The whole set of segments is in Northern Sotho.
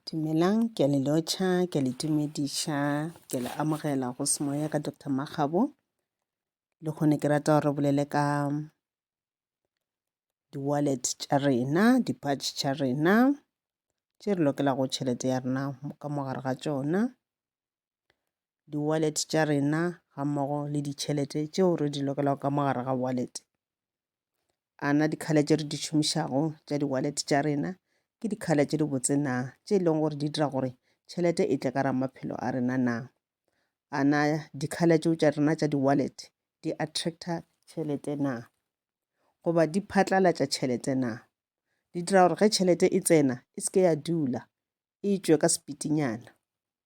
Dumelang, ke a le lotšha, ke a le tumediša, ke le amogela go semoya ka Doctor Makgabo. Le kgone ke rata gore bolele ka di-wallet tša rena, di-patch tša rena tše re lokelago tšhelete ya rena ka mo gare ga tšona. di-wallet tša rena ga mmogo le ditšhelete tšeo re di lokelago ka mogare ga wallet. A na di-colour tše re di šomišago tša di-wallet tša rena ke di-colour tše di botse na, tše e leng gore di dira gore tšhelete e tle ka ra maphelo a rena na. A na di-colour tšeo tša rena tša di-wallet di attractor tšhelete na, goba di phatlalatša tšhelete na, di dira gore ge tšhelete e tsena e se ke ya dula e tšwe ka sepitinyana.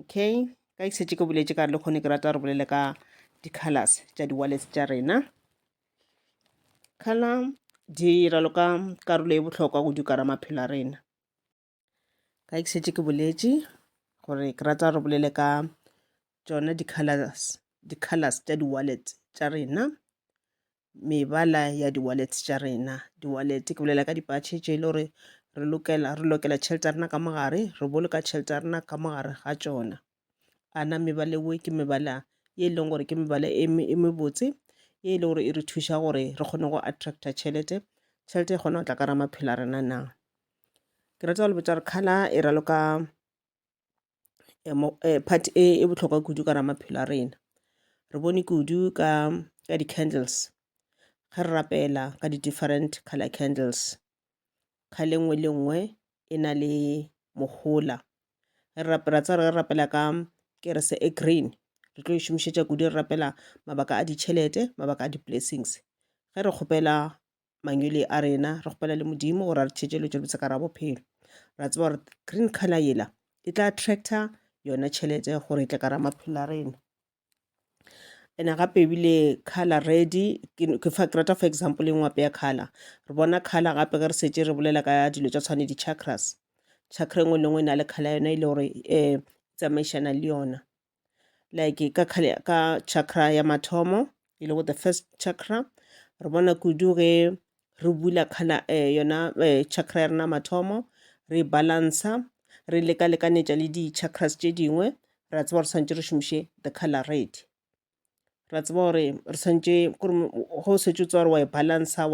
okay ka ke setse ke boletse ka re le kgone ke rata re bolele ka di-colors tša di-wallets tša rena color di ralo ka karolo e bohlokwa go dukara maphelo a rena ka ke setse ke boletse gore ke rata re bolele ka tšona di-colors di-colors tša di-wallet tša rena mebala ya di-wallet tša rena di-wallet ke bolela ka dipatšhe tše e le gore re lokela re lokela tšhelete ya rena ka mogare re boloka tšhelete ya rena ka mogare ga tšona a na mebala eo ke mebala ye e leng gore ke mebala e me- e mebotse ye e le gore e re thuša gore re kgone go attracta tšhelete tšhelete e kgona go tla ka ra maphelo a rena na ke rata go le botša gore kgala e raloka eh, part e e bohlokwa kudu ka ra maphelo a rena re bone kudu ka ka di-candles ga re rapela ka di-different color candles kga le nngwe le nngwe e na le mohola re rapela tsa re rapela ka kerese e green re tlo e šomišetša kudu re rapela mabaka a ditšhelete mabaka a di-blessings ge re kgopela mangwele a rena re kgopela le modimo gore a re theetše letšo lebotse ka ra bophelo ra tseba gore green color yela e tla attractor yona tšhelete gore e tle ka ra maphelo a rena ene gape ebile color red ke fa ke rata for example e ngwape ya color re bona color gape ge re setse re bolela ka dilo tša tshwane di-chakras chakra engwe le engwe e na le color yona e le gore um tsamaišana le yona like ka, ka chakra ya mathomo e lego the first chakra re bona kudu ge re bula khala eh, yona eh, chakra ya rena mathomo re balansa re leka-lekanetša le di-chakras tše dingwe ra tseba re swanetše re šomiše the color red ra tseba gore re tshwanetse gore ge o setse o tseba gore wa e balancer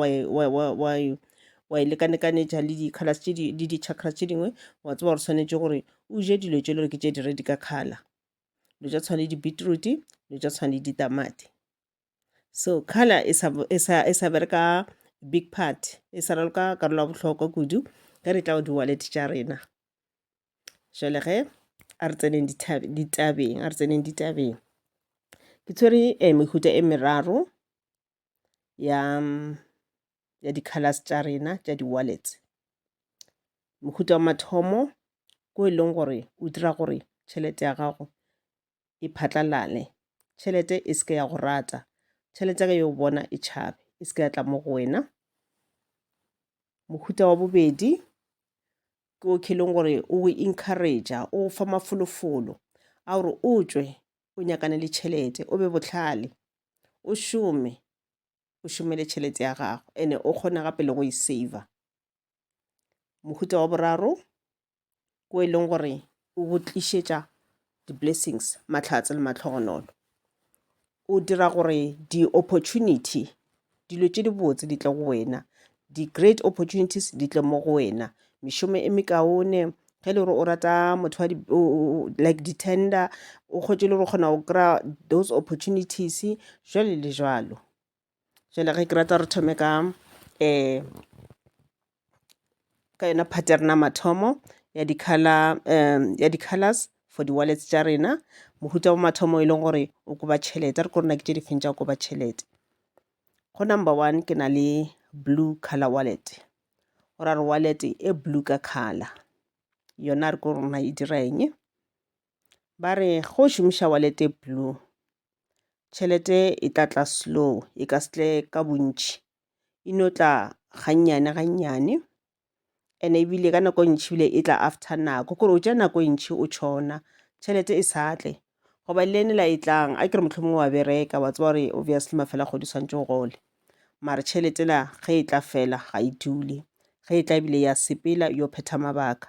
wa e lekalekanetša le di colours tše dingwe le di chakras tše dingwe wa tseba gore swanetše gore o je dilo tše e le gore ke tše di red ka colour dilo tša go tshwana le di beetroot dilo tša go tshwana le ditamati. So colour e sa e sa e sa bereka big part e sa raloka karolo ya bohlokwa kudu ge re tla go di wallet tša rena. jale ge a re tseneng ditabeng a re tseneng ditabeng ke tshwere eh, mehuta e meraro ya ya di-colors tša rena tša di-wallets mohuta wa mathomo ko e leng gore o dira gore tšhelete ya gago e phatlalale tšhelete e seke ya go rata tšhelete ya ka yo bona e tšhabe e seke ya tla mo go wena mohuta wa bobedi ke okay leng gore o go encouragea o fa mafolofolo a gore o tswe o nyakane le tšhelete o be botlhale o šome o šomele tšhelete ya gago ene o kgona gape le go e saver mohuta wa boraro ko e leng gore O go tlišetša di-blessings, mahlatse le mahlogonolo. O dira gore di-opportunity, dilo tše dibotse di tle go wena, di-great opportunities di tle mo go wena. Mešomo e mekaone, ge e le gore o rata motho wa like di-tender, o kgwetše le gore o kgona go kry-a those opportunities, jwalo le jwalo. jale ge ke rata re thome ka um ka yona part ya rena mathomo ya di-colour um ya di-colours for di-wallets tša rena mohuta wa mathomo e leng gore o koba tšhelete re ko rena ke tše difeng tša go koba tšhelete go number one ke na le blue color wallet o ra re wallet e blue ka color yona re ko rona e dira eng ba re go šomiša walete blue tšhelete e tla tla slow e ka setle ka bontši e no tla gannyane gannyane and ebile ka nako e ntšhi bile e tla after nako kore o tša nako e ntšhi o tšhona tšhelete e sa tle goba le ene la e tlang a kere motlho mongwe wa bereka wa tseba gore obviously mafela kgodi tshwanetse o gole mare tšhelete la ge e tla fela ga e dule ge e tla ebile ya sepela yo phetha mabaka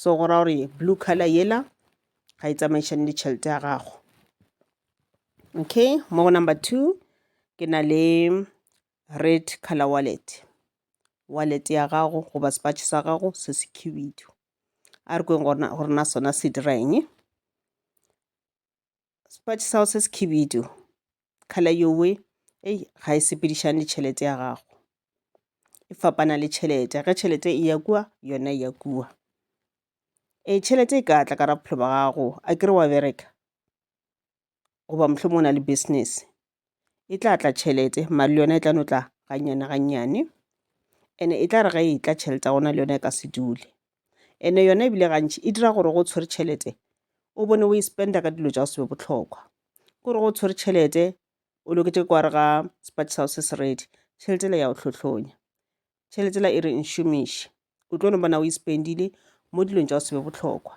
so go ra gore blue color yela ga e tsamaišane le tšhelete ya gago okay mo go number two ke na le red color wallet wallet ya gago goba sepatšhe sa gago se se khibidu a re kweng gore na sona se dira eng Sepatši sa go se sekhibidu, khala yowe ei ga e sepedišane le tšhelete ya gago, e fapana le tšhelete. Ge tšhelete e ya kua yona e ya kua. E tšhelete e ka tla ka ra bophelo ba gago a kere wa bereka goba mohlomong o na le business e tla tla tšhelete mare le yona e tla no tla gannyane gannyane and-e e tla re ga e tla tšhelete ya gona le yona e ka se dule and-e yona ebile gantšhi e dira gore go tshwere tšhelete o bone o e spenda ka dilo tša go se be bohlokwa kore go tshwere tšhelete o loketše kwa re ga sepatši sa go se se ready tšhelete la ya go tlhotlhonya tšhelete la e re nšomiše o tlo no bona o e spendile mo dilong tša go se be bohlokwa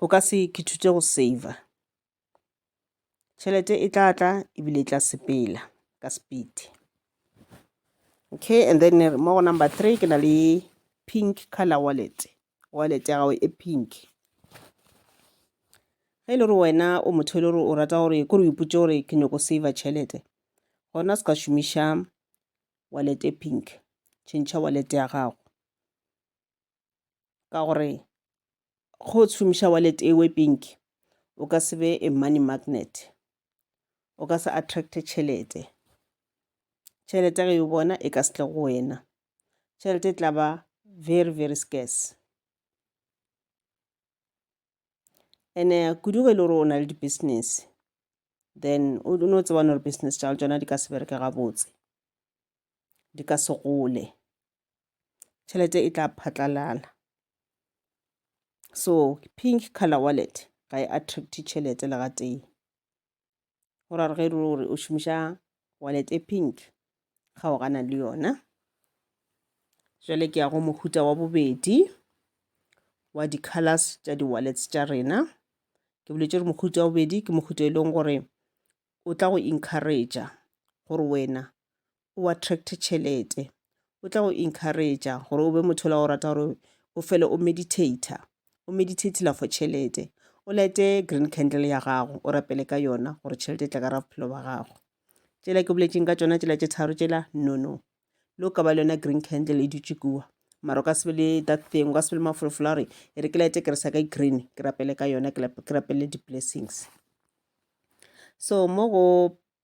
o ka se ke thute go saver Tšhelete e tla tla ebile e tla sepela ka speed. Okay, and then mo go number three ke na le pink color wallet. Wallet ya gago e pink. Ge e le gore wena o motho e le gore o rata gore kore o ipotse gore ke nyoko saver tšhelete, gona se ka šomiša wallet e pink. Tšhentšha wallet ya gago. ka gore go šomiša wallet e we pink o ka se be a money magnet o ka se attract tšhelete tšhelete ge o bona e ka se tle go wena tšhelete e tla ba very very scarce ene kudu ge e le gore o na le di-business then o no tsebane gore business tša tsona di ka se bereke gabotse di ka se gole tšhelete e tla phatlalala so pink color wallet ga e attract tšhelete le ga tee go ra re ge e re gore o šomiša wallet e pink ga o gana le yona jale ke ya go mohuta wa bobedi wa di-colors tša di-wallets tša rena ke boletse gore mohuta wa bobedi ke mohuta e leng gore o tla go encouragea gore wena o attracte tšhelete o tla go encouragea gore o be motho la go rata gore o fele o meditator o meditatela for tšhelete o lete green candle ya gago o rapele ka yona gore tšhelete e tla ka ra bophelo ba gago tšela ke boletseng ka tsona tšela tše tharo tšela nono lo ka ba le yona green candle e dutše kua mara o ka sebe le that thing o ka sebe le mafolofolo a gore e re ke lete ke re sa ka e green ke rapele ka yona ke rapele di-blessings so mo go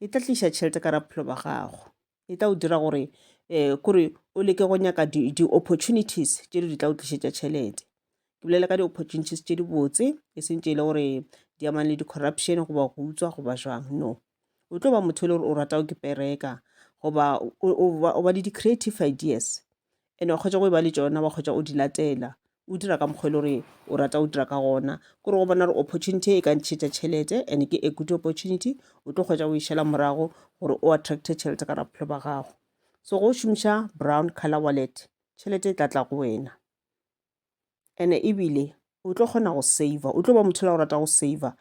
e tla tliša tšhelete ka raphelo ba gago e tla o dira gore um kore o leke go nyaka di-opportunities di tše di tla o tlišetša tšhelete ke bolela ka di-opportunities tše di botse e seng tše e le gore di amang le di-corruption goba go utswa goba jwang no o tlo ba motho e le gore o rata o ke pereka goba o ba le di-creative ideas and wa kgotsa go e ba le tsona wa kgotsa o di latela o dira ka mokgwa e le gore o rata o dira ka gona kore go bona gore opportunity e ka ntšhetša tšhelete and ke a good opportunity o tlo kgwetsa o e šela morago gore o attracte tšhelete ka raphelo ba gago so go šomiša brown color wallet tšhelete e tla tla go wena and ebile o tlo kgona go saver o tlo ba motho la go rata go saver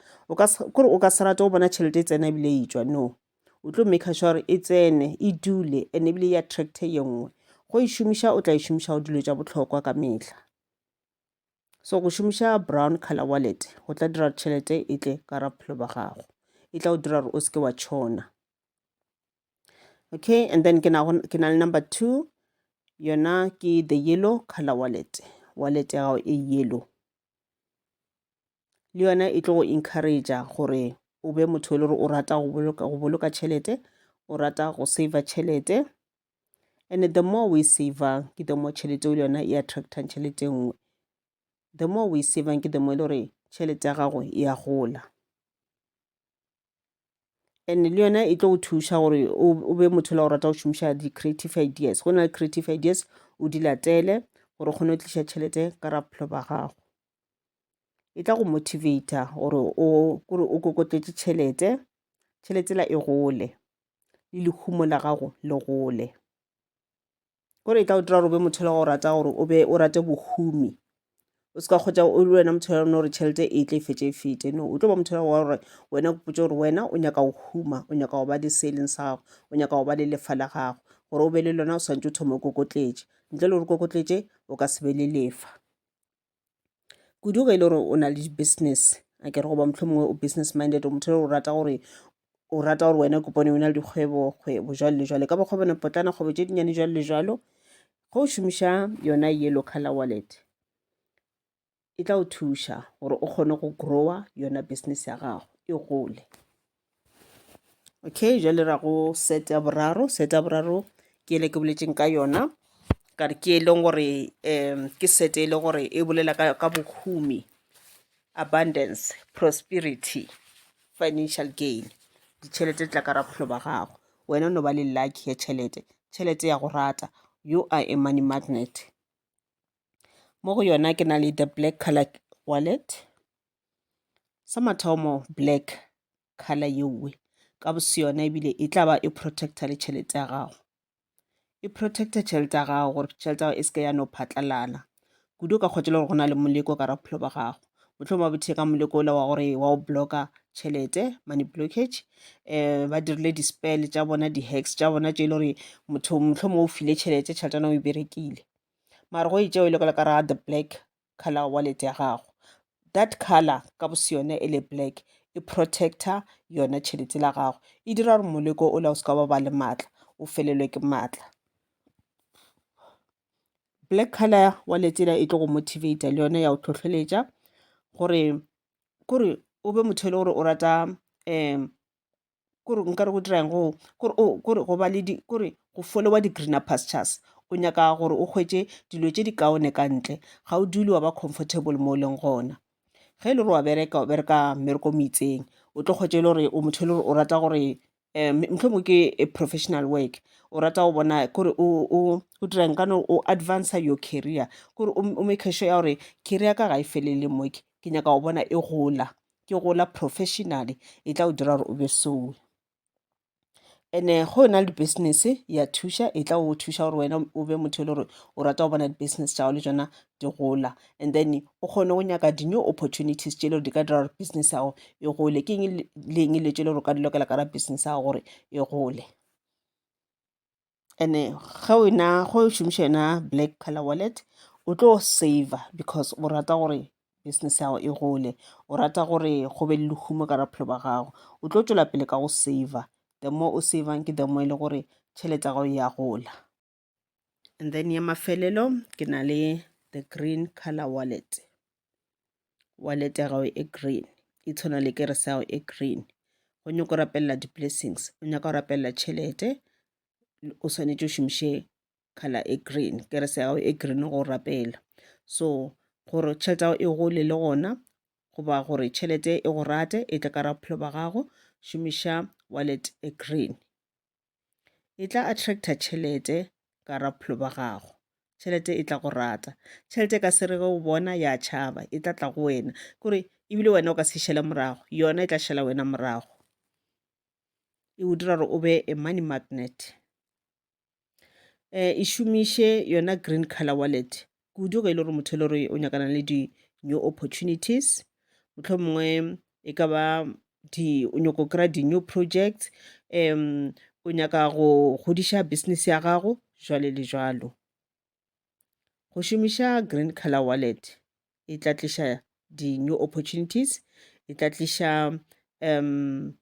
kore o ka se rate o bona tšhelete e tsena ebile e tswa no o tlo maker sure gore e tsene e dule and ebile e attracte ye nngwe go e šomiša o tla e šomiša go dilo tša bohlokwa ka mehla so go šomiša brown color wallet go tla dira tšhelete e tle ka ra bophelo ba gago e tla go dira gore o seke wa tšhona okay and then ke na le number two yona ke the yellow color wallet wallet ya gago e yellow le yona e tlo go encourage gore o be motho e le gore o rata go boloka go boloka tšhelete o rata go saver tšhelete and the more we savang ke the more tšhelete o le yona e attractang tšhelete e nngwe the more we savang ke the more e le gore tšhelete ya gago e a gola and le yona e tlo go thuša gore o be motho la go rata go šomiša di-creative ideas go na le creative ideas o di latele gore o kgone go tliša tšhelete ka rabophelo ba gago e tla go motivator gore o kore o kokotletše tšhelete tšhelete la e gole le lehumo la gago le gole gore e tla o dira gore o be motho le go rata gore o be o rate bohumi o se ka kgotsa o le wena motho ya gore tšhelete e tle e fetse e fete no o tlo ba motho wa gore wena o potse gore wena o nyaka go huma o nyaka go ba le se e leng sa gago o nyaka go ba le lefa la gago gore o be le lona o swantse o thoma o kokotletše ntle le gore kokotletše o ka se be le lefa kudu ge e le gore o na le di-business a kere goba motlho mongwe o business minded o motho o rata gore o rata gore wena kopone o na le dikgwebo kgwebo jalo le jalo ka ba kgwebone potlana kgwebo tše dinnyane jalo le jalo ge o šomiša yona yellow color wallet e tla o thuša gore o kgone go grower yona business ya gago e gole okay jale ra go set ya boraro set ya boraro ke ele ke boletseng ka yona ka re ke e leng gore um ke set e leng gore e bolela ka, ka bohumi abundance prosperity financial gain ditšhelete tla ka rapholo ba gago wena o no ba le lucky ya tšhelete tšhelete ya go rata you are a money magnet mo go yona ke na le the black colour wallet, sa mathomo black colour yeo ka bo se yona ebile e tla ba e protect-a le tšhelete ya gago. E protect-a tšhelete ya gago gore tšhelete ya gago e se ke ya no phatlalala kudu o ka kgotša le gore go na le moleko ka bophelo ba gago mohlomongwe ba botheka moleko ola wa gore wa go blocka tšhelete money blockage um ba dirile di-spell tša bona di-hacks tša bona tše e le gore motho mohlomongwe o file tšhelete tšhelete ya o e berekile mara go itšeo e le ka ra the black color wallet ya gago that color ka bo se yone e le black e protector yona tšhelete la gago e dira gore moleko o la o se ka ba ba le maatla o felelwe ke maatla black color wa letsela e tlo go motivate le yone ya go tlhotlheletša gore kore o be motho e le gore o rata um kore nka re go dirang go kore o kore go ba le di kore go followa di-greener pastures o nyaka gore o hwetše dilo tše di kaone ka ntle ga o dule wa ba comfortable mo o leng gona ge e le gore wa bereka o bereka mmereko mo itseng o tlo kgwetše e le gore o motho e le gore o rata gore um motlho mongwe ke a professional work o rata go bona kore o dirang ka no o advancer your career kore o make sure ya gore career ka ga e felele moke ke nyaka go bona e gola ke gola professionally e tla o dira gore o be sowe ene go yona le di-business ya thuša e tla o thuša gore wena o be motho e le gore o rata go bona di-business tša gago le tsona di gola and then o kgone go nyaka di-new opportunities tše e le gore di ka dira gore business ya gago e gole ke eng leng le tše e le gore o ka di lokela ka ra business ya gago gore e gole and ge o na go šomiša yona black color wallet o tlo saver because o rata gore business ya gago e gole o rata gore go be le lehumo ka raphelo ba gago o tlo tšwela pele ka go saver the more o savang ke the more e le gore tšhelete ya gago ya gola and then ya mafelelo ke na le the green color wallet wallet ya gago e green e tshwana le kere sa gago e green go nyaka go rapelela di-blessings o nyaka go rapelela tšhelete o swanetše o šomiše color e green kere sa gago e green go rapela so gore tšhelete ya gago e gole le gona goba gore tšhelete e go rate e tle ka ra bophelo ba gago šomiša wallet e green e tla attracta tšhelete ka ra bophelo ba gago tšhelete e tla go rata tšhelete e ka se re ge o bona ya tšhaba e tla tla go wena kore ebile wena o ka se šele morago yona e tla šela wena morago e o dira gore o be a money magnet um e šomiše yona green color wallet kudu ge e le gore motho e le gore o nyakana le di-new opportunities motlho mongwe e ka ba o nyako kry-a di-new projects um o nyaka go godiša business ya gago jwale le jwalo go šomiša green color wallet e tla tliša di-new opportunities e tla tliša um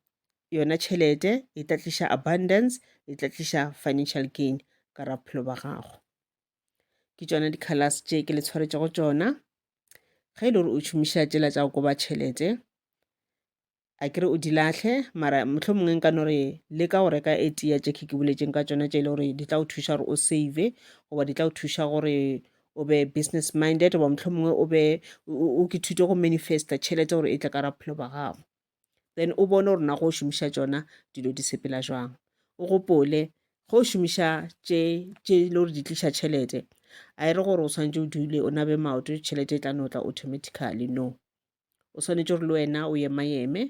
yona tšhelete e tla tliša abundance e tla tliša financial gain ka rapphelo ba gago ke tšona di-colors tše ke le tshwaretšego tšona ge e le gore o šomiša tšela tša go koba tšhelete a kere o di latlhe mara motlho mongwe nka no re le ka go reka e tea tše ke ke boletseng ka tšona tše e le gore di tla go thuša gore o save goba di tla go thuša gore o be business minded goba motlho mongwe o be o ke thute go manifesta tšhelete gore e tle ka rapphelo ba gago then o bone gore na go šomiša tšona dilo di sepela jwang o gopole go šomiša tše tše le gore di tliša tšhelete a e re gore o swanetše o dule o nabe maoto tšhelete e tla notla automatically no o swanetše gore le wena o yemayeme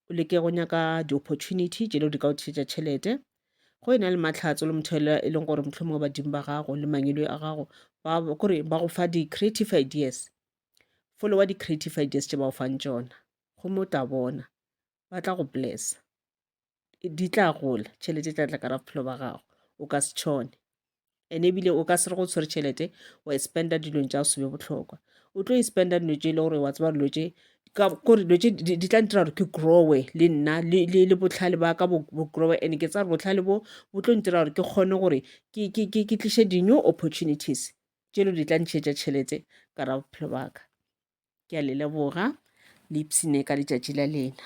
o leke go nyaka di-opportunity tše le gore di ka o tlišetša tšhelete go e na le matlhatso le motho e leng gore motlho mo badimo ba gago le mangelo a gago kore ba go fa di-creative ideas folowa di-creative ideas tše ba o fang tšona gomme o tla bona ba tla go blessa di tla gola tšhelete tla tla kara bophelo ba gago o ka se tšhone ene ebile o ka se re go tshwere tšhelete wa e spenda dilong tša go sebe bohlokwa o tlo e spenda dilo tše e le gore wa tseba dilo tše kore dilo tše di tla ntira gore ke growe le nna le botlhale ba ka bo growe and ke tsare botlhale bo bo tlo ntira gore ke kgone gore ke tliše di-new opportunities tše lo di tla ntšhetša tšhelete ka ra bophelo baka ke a le leboga le ipsine ka letšatši la lena